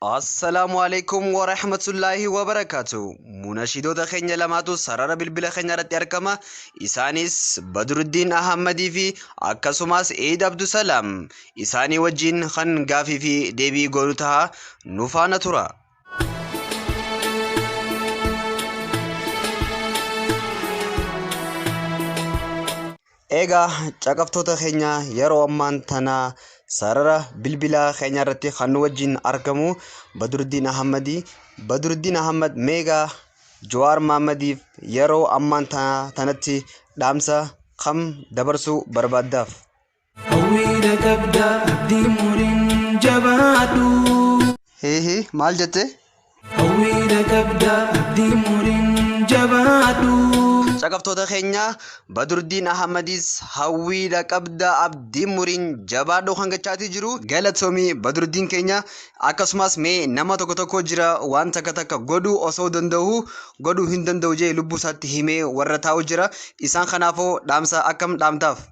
Assalaamu alaikum wa rahmatullaahi wa barakaatu. Munashidoota keenya lamaatu sarara bilbila keenya irratti argama. Isaanis Badruddiin Ahammadii fi akkasumas Eid Abdusalaam. Isaanii wajjin kan gaafii fi deebii goonu taha nu faana tura. Eegaa caqaftoota keenya yeroo ammaan tana sarara bilbilaa keenya irratti kan nu wajjin argamu Baduruddiin Ahammadi. Baduruddiin Ahammad meegaa Jawaar Mahaammadiif yeroo ammaan tana tanatti dhaamsa kam dabarsuu barbaaddaaf? Hawwiidha qabda abdii muriin jabaadhu. Hihi maal jette? Hawwiidha qabda abdii muriin jabaadhu. Caqaftoota keenya Badurdiin Ahmadis hawwiidha qabda abdiin muriin jabaadhu kan gachaatii jiru galatoomii Badurdiin keenya akkasumas mee nama tokko tokko jira waan takka takka godhu osoo danda'u godhu hin danda'u jee lubbuu isaatti himee warra taa'u jira isaan kanaafoo dhaamsa akkam dhaamtaaf.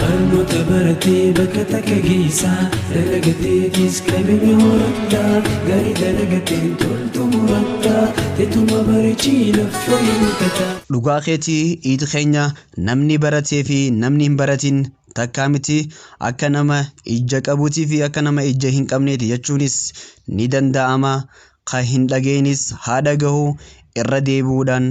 Barnoota baratee bakka takka geessa Dalagateetis qabeenya horatta Gaarii dalagateen toltu muratta Tetuma bareechii laffa hin tata. Dhugaa keeti iid keenya namni baratee fi namni hin baratin takkaa miti akka nama ijja qabuutii fi akka nama ijja hin qabneeti jechuunis ni danda'ama ka hin dhageenis haa dhagahu irra deebi'uudhaan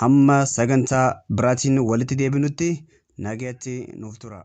Hamma sagantaa biraatiin walitti deebinutti nagayatti nuuf turaa.